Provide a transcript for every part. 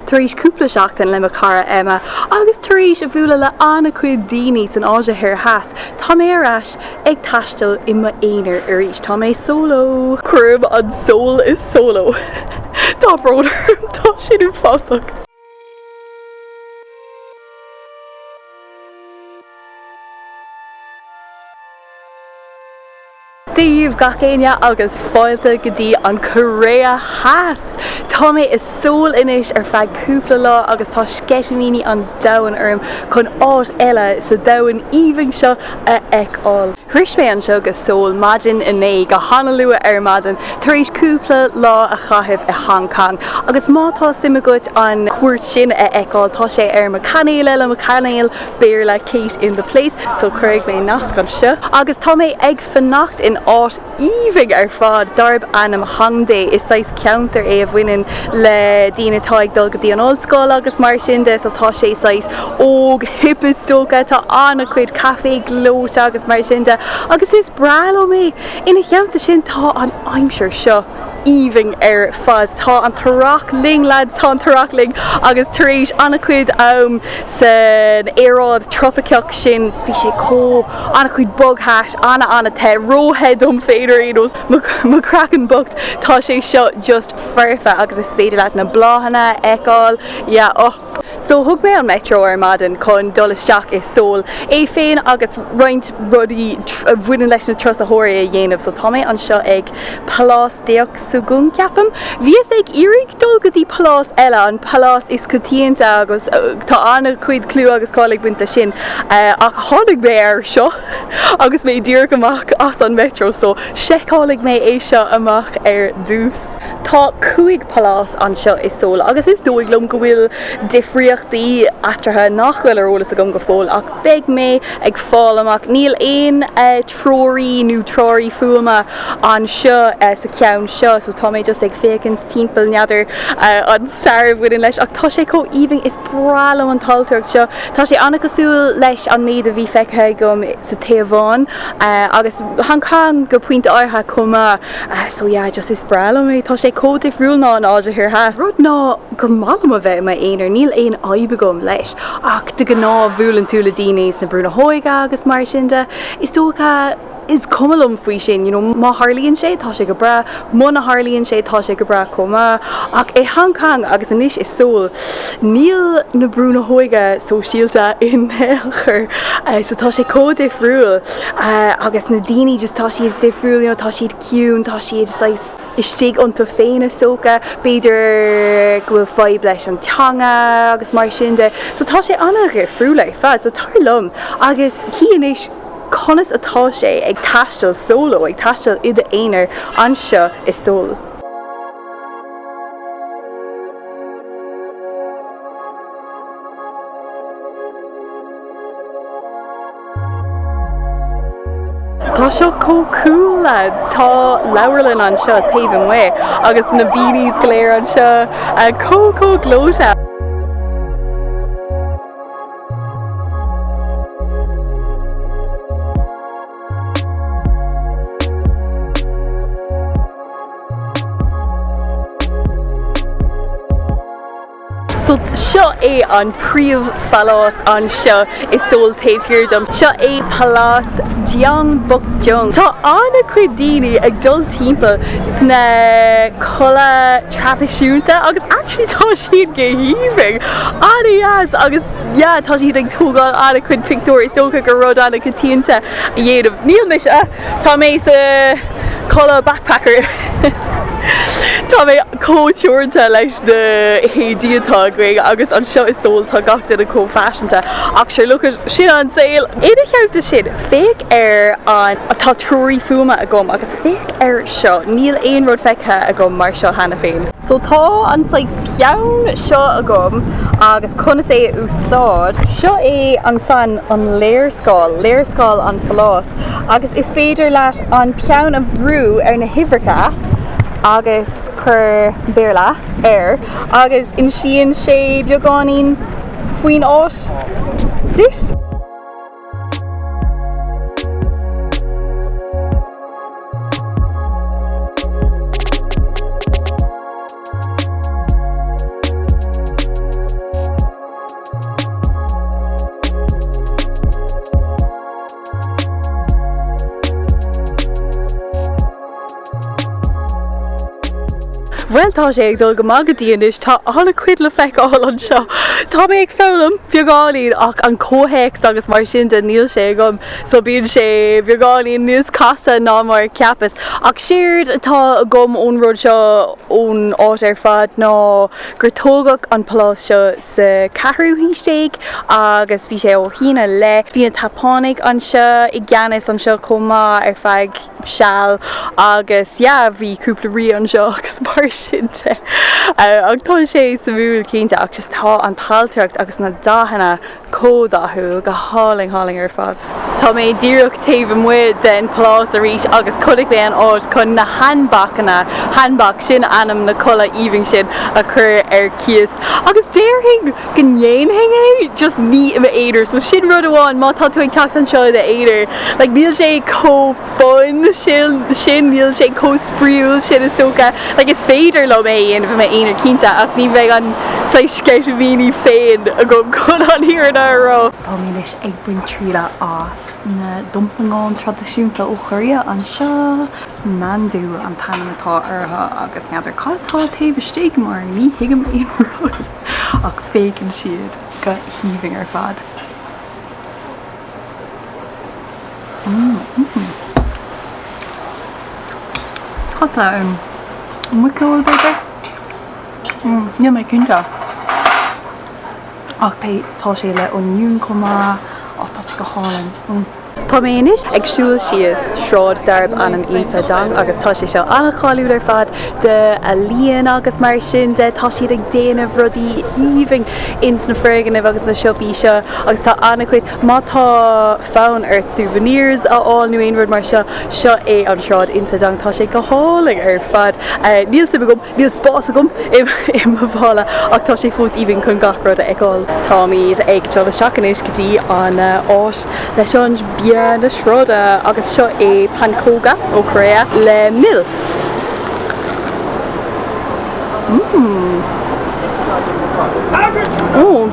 Tar éis cúpla seachtain le mo chara Emma agus tar éis a bhualadh le an-chuid daoine san Áise Thoir Theas, tá mé ar ais ag taisteal i m'aonar arís. Tá mé solo! Cuirim an sól i solo! Tá brón orm, tá sin uafásach! Dia-dhaoibh gach éinne agus fáilte go dtí an Korea Theas! Tá mé i Seoul anois ar feadh cúpla lá agus tá sceitimíní an domhain orm chun áit eile sa domhan aoibhinn seo a fheiceáil. Shrois mé anseo go Seoul maidin inné go han-luath ar maidin tar éis cúpla lá a chaitheamh i Hong Kong agus má tá suim agat an cuairt sin a fheiceáil tá sé ar mo chainéal eile, mo chainéal Béarla Kate in the Place so cuirfidh mé nasc anseo. Agus tá mé ag fanacht in áit aoibhinn ar fad darb ainm Hongdae. Is saghas ceantar é a bhaineann le daoine atá ag dul go dtí an ollscoil agus mar sin de so tá sé saghas óg hip is dócha. Tá an-chuid caifé gleoite agus mar sin de agus is breá liom é. Ina theannta sin tá an aimsir seo. aoibhinn ar fad. Tá an tEarrach linn lads, tá an tEarrach linn agus tar éis an-chuid am san aeráid trópaiceach sin, bhí sé chomh, an-chuid bogthais, an-an-te, ró-the dom féin ar aon nós, mo chraiceann bocht, tá sé seo just foirfe agus is féidir leat na bláthanna a fheiceáil, yeah, oh. So thug mé an Metro ar maidin chun dul isteach i Sól, é féin agus roinnt rudaí a bhaineann leis na turasóirí a dhéanamh. So tá mé anseo ag Palás Deoksugung, ceapaim. Bhíos ag iarraidh dul go dtí palás eile, an palás is coitianta agus tá an-chuid clú agus cáil ag baint leis sin, ach tháinig mé air seo agus mé díreach amach as an Metro, so seiceálfaidh mé é seo amach ar dtús. Tá cúig palás anseo i Sól agus is dóigh liom go bhfuil difríochtaí eatarthu nach bhfuil ar eolas agam go fóill ach beidh mé ag fáil amach. Níl aon treoraí nó treoraí fuaime anseo sa cheann seo so tá mé just ag féachaint timpeall, n'fheadar an stair a bhaineann leis ach tá sé chomh aoibhinn, is breá liom an ailtireacht seo. Tá sé an-chosúil leis an méid a bhí feicthe agam sa Téaváin agus Hong Cong go pointe áirithe chomh maith. Ah so yeah just is breá liom é, tá sé chomh difriúil ná an Áise Thoir Theas. Rud ná gur maith liom a bheith i m'aonar, níl aon fhadhb agam leis ach de ghnáth bhuaileann tú le daoine sna brúnna óige agus mar sin de, is dócha is cuma liom faoi sin you know má tharlaíonn sé tá sé go breá, muna tharlaíonn sé tá sé go breá chomh maith ach i Hong Kong agus anois i Seoul níl na brúnna óige sóisialta in aon chor so tá sé chomh difriúil. Uh, agus na daoine just tá siad difriúil, you know, tá siad ciúin, tá siad saghas istigh iontu féin is dócha, b'fhéidir go bhfuil fadhb leis an teanga agus mar sin de. So tá sé ana dhifriúil ar fad, so tar liom agus cífimis conas atá sé ag taisteal solo, ag taisteal i d'aonar anseo i Seoul. Tá seo chomh cool lads! Tá leabharlann anseo taobh amuigh agus na beanies go léir anseo chomh chomh gleoite! So seo é an príomh phalás anseo i Seoul taobh thiar dom. Seo é Palás Gyeongbokgung. Tá ana chuid daoine ag dul timpeall sna culaith traidisiúnta agus actually tá siad go haoibhinn. Ana dheas agus yeah tá siad ag tógáil ana chuid pictiúr is dócha gur rud ana choitianta a dhéanamh. Níl mise. Tá mé sa chulaith backpacker. Tá mé chomh teoranta leis na héadaí atá agam agus anseo i Seoul tá gach duine chomh faiseanta ach sure look it sin an saol! Ina theannta sin, féach ar an, tá treoraí fuaime agam agus féach ar seo, níl aon rud feicthe agam mar seo cheana féin. So tá an saghas peann seo agam agus conas é a úsáid. Seo é an saghas an léarscáil, léarscáil an phaláis. Agus is féidir leat an peann a bhrú ar na huimhreacha agus cuir Béarla air agus insíonn sé beagáinín faoin áit duit. Bhuel tá sé ag dul go maith go dtí anois, tá ana chuid le feiceáil anseo. Tá mé ag foghlaim beagáinín ach an comhthéacs agus mar sin de níl sé agam so bíonn sé beagáinín níos casta ná mar a cheapas. Ach séard atá agam ón rud seo ón áit ar fad ná gur tógadh an pálás seo sa cheathrú haois déag agus bhí sé ó shín i leith. Bhí na Seapánaigh anseo i gceannas anseo chomh maith ar feadh seal agus yeah bhí cúpla rí anseo agus mar sin de ach tá sé suimiúil cinnte ach just tá an t-ailtireacht agus na dathanna chomh dathúil go hálainn hálainn ar fad. Tá mé díreach taobh amuigh den Pálás arís agus chonaic mé an áit chun na hanbokanna, hanbok, sin ainm na culaith aoibhinn sin, a chur ar cíos. Agus déarfainn go ndéanfainn é, just ní i m'aonar. So sin rud amháin, má tá tú ag teacht anseo i d'aonar, like níl sé chomh fun sin, níl sé chomh spraíúil sin is dócha. Like is féidir liom é a dhéanamh i m'aonar cinnte ach ní bheidh an saghas sceitimíní féin agam chun an fhírinne a rá. Tá mé anois Ag baint triala as na domplanáin traidisiúnta ó Korea anseo. Mandu an t-ainm atá orthu agus n'fheadar cad atá taobh istigh mar ní thuigim aon rud ach féachann siad go haoibhinn ar fad. Mmm. Cad atá ann? Muiceoil b'fhéidir? Mmm, níl mé cinnte. Ach pé tá sé le oinniún chomh maith á tá sé go hálainn. Tá mé anois ag siúl síos sráid darb ainm Insadong agus tá sé seo an-cháiliúil ar fad d'ealaíon agus mar sin de tá siad ag déanamh rudaí aoibhinn ins na foirgnimh agus na siopaí seo agus tá an-chuid má tá fonn ort souvenirs a fháil nó aon rud mar seo seo é an sráid Insadong tá sé go hálainn ar fad níl suim agam Níl spás agam i mo mhála ach tá sé fós aoibhinn chun gach rud a fheiceáil. Táimid ag dul isteach anois go dtí an áit leis an bia na sráide agus seo é pancóga ó Korea le mil. Mmm.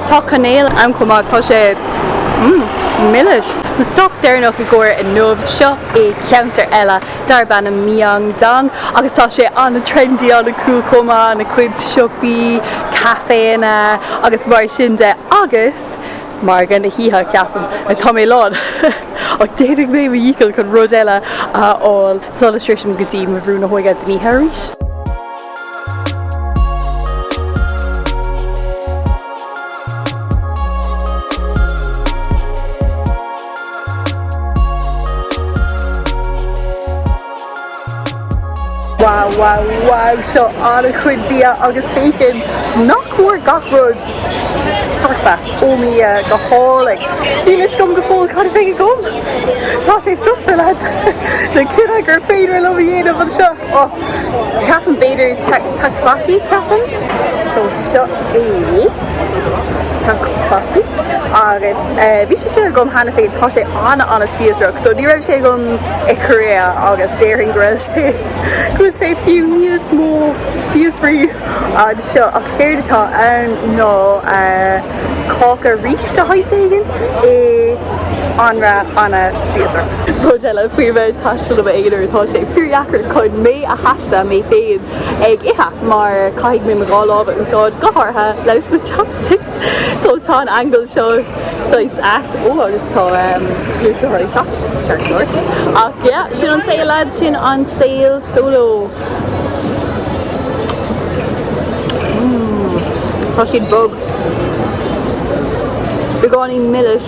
Tá cainéal ann chomh maith, tá sé mmm milis. Mo stop deireanach i gcomhair inniu, seo é ceantar eile. darb ainm Myeongdong agus tá sé an-trendy an-cool chomh maith, an-chuid siopaí, caiféanna agus mar sin de agus margadh na hoíche ceapaim, like tá mé lán ach déanfaidh mé mo dhícheall chun rud eile a fháil sula sroisim go dtí mo bhrú na hóige don oíche arís. Wow wow wow seo an-chuid bia agus féachann nach mór gach rud foirfe ó mo Dhia go hálainn. Níl fhios agam go fóill cad a bheidh agam. Tá sé stressful lads. An cinneadh gur féidir liom a dhéanamh anseo. Ohh ceapaim b'fhéidir tteokbokki ceapaim. So seo é. tteokbokki agus bhí sé sin agam cheana féin, tá sé ana ana spíosrach so ní raibh sé agam i Korea agus déarfainn go raibh sé go bhfuil sé fiú níos mó spíosrach anseo ach séard atá ann ná cáca rís de shaghas éigin in anraith ana spíosrach. Rud eile faoi a bheith ag taisteal i m'aonar tá sé fíor dheacair chun mé a thaifeadadh mé féin ag ithe mar caithfidh mé mo dhá lámh a úsáid go háirithe leis na chopsticks so tá an angle seo saghas ait oh agus tá gluaisteáin ag teacht ceart go leor ach yeah sin an saol lads sin an saol solo mmm tá siad bog beagáinín milis.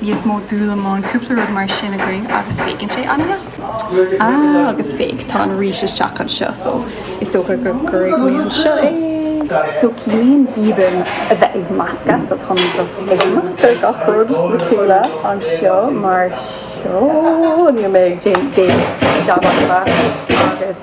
níos mó dúlamán cúpla rud mar sin againn agus féachann sé an-deas. Ah agus féach tá an rís isteach anseo so is dócha go gcuirfidh mé anseo é. So ciallaíonn bibim a bheith ag meascadh so tá mé just ag meascadh gach rud lena chéile anseo mar seo. Níl mé ag déanamh jab as a bheith agus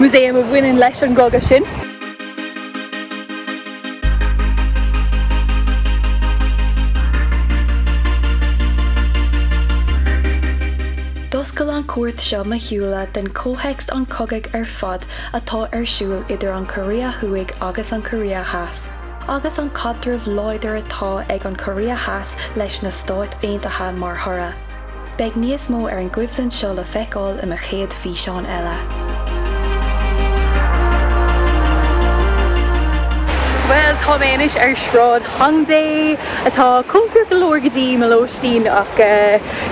Museum a bhaineann leis an gcogadh sin. D'oscail an chuairt seo mo shúile do chomhthéacs an chogaidh ar fad atá ar siúl idir an Chóiré Thuaidh agus an Chóiré Theas, agus an caidreamh láidir atá ag an gCóiré Theas leis na Stáit Aontaithe mar thoradh. Beidh níos mó ar an gcoimhlint seo le feiceáil i mo chéad físeán eile. Bhuel, tá mé anois ar Shráid Hongdae, atá cóngarach go leor go dtí mo lóistín, ach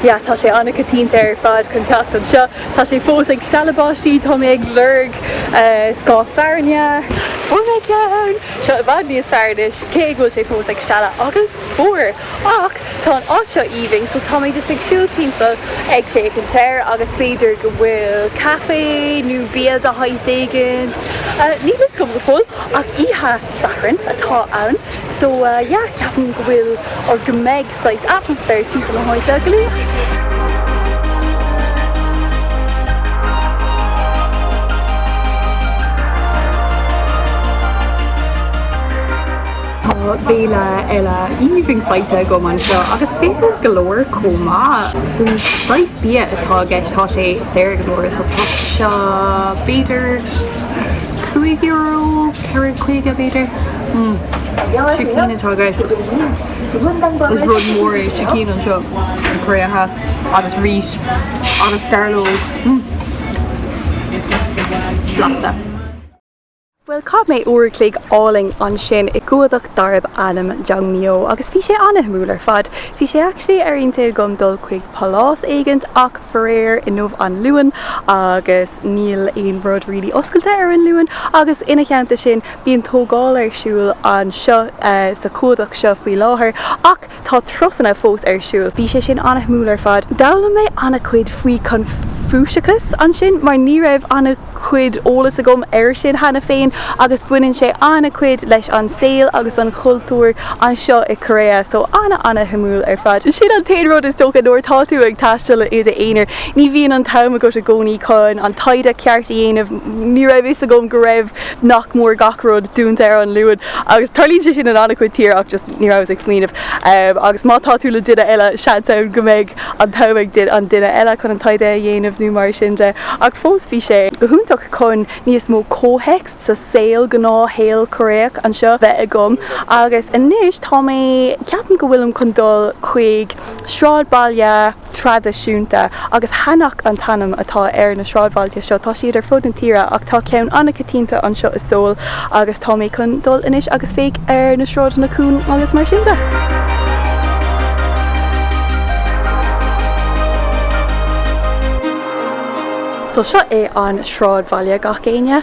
yeah, tá sé ana-choitianta ar fad chun teacht anseo. Tá sé fós ag stealladh báistí, tá mé ag lorg scáth fearainne. Fuair mé ceann! Seo i bhfad níos fearr anois, cé go bhfuil sé fós ag stealladh agus fuar! Ach tá an áit seo vibing so tá mé just ag siúl timpeall ag féachaint air agus b'fhéidir go bhfuil caifé nó bia de shaghas éigint, níl 'fhios agam go fóill ach oíche Shathairn atá ann so yeah ceapaim go bhfuil or go mbeidh saghas atmaisféar timpeall na háite go léir. Tá béile eile aoibhinn faighte agam anseo agus saor go leor chomh maith. Don saghas bia atá i gceist tá sé saor go leor so tá seo b'fhéidir €5, €4, €5 b'fhéidir. Hmm sicín atá i gceist. Is rud mór é sicín anseo sa Chóiré Theas agus rís agus gairleog. Hmm. Blasta. Bhuel, chaith mé uair a chloig álainn ansin i gcumhdach darb ainm Jongmyo agus bhí sé ana-shuimiúil ar fad. Bhí sé actually ar intinn agam dul chuig pálás éigint ach faraor inniu an Luan agus níl aon rud really oscailte ar an Luan agus ina theannta sin bíonn tógáil ar siúl anseo sa chumhdach seo faoi láthair ach Tá turasanna fós ar siúl. Bhí sé sin ana-shuimiúil ar fad. D'fhoghlaim mé ana-chuid faoi Chonfúiceachas ansin mar ní raibh ana-chuid eolas agam air sin cheana féin agus baineann sé ana-chuid leis an saol agus an chultúr anseo i Korea so ana-ana-shuimiúil ar fad. Sin an t-aon rud is dócha nuair atá tú ag taisteal i d'aonar ní bhíonn an t-am agat i gcónaí chun an taighde ceart a dhéanamh. Ní raibh fhios agam go raibh nach mór gach rud dúnta ar an Luan agus tarlaíonn sé sin in ana-chuid tír ach just. ní rabhas ag smaoineamh agus má tá tú le duine eile seans ann go mbeidh an t-am ag an duine eile chun an taighde a dhéanamh nó mar sin de ach fós bhí sé go hiontach chun níos mó comhthéacs sa saol gnáthshaol Coiréach anseo bheith agam agus anois tá mé ceapaim go bhfuilim chun dul chuig sráidbhaile traidisiúnta agus hanok an t-ainm atá ar na sráidbhailte seo. Tá siad ar fud na tíre ach tá ceann an-choitianta anseo i Seoul agus tá mé chun dul anois agus féach ar na sráideanna cúng agus mar sin de. So seo é an sráidbhaile gach éinne.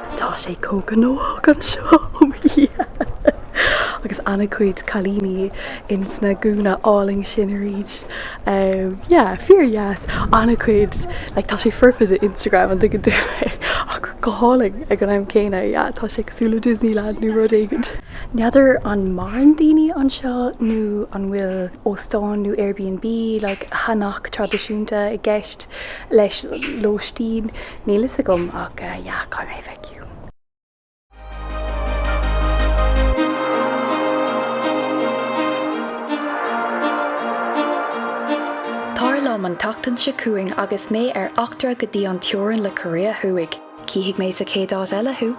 Tá sé chomh gnóthach anseo, oh mo Dhia! Agus ana-chuid cailíní ins na gúna álainn sin arís. Yeah, fíor dheas. Ana-chuid, like, tá sé foirfe do Instagram, an dtuigeann tú mé? Ach go hálainn ag an am céanna, yeah, tá sé cosúil le Disneyland nó rud éigin. N'fheadar an maireann daoine anseo nó an bhfuil óstáin nó Airbnb, like, hanok traidisiúnta i gceist leis lóistín. Níl fhios agam ach yeah caithfidh mé feiceáil. Tar liom an tseachtain seo chugainn agus mé ar eachtra go dtí an teorainn le Korea Thuaidh. Cífidh mé sa chéad áit eile thú!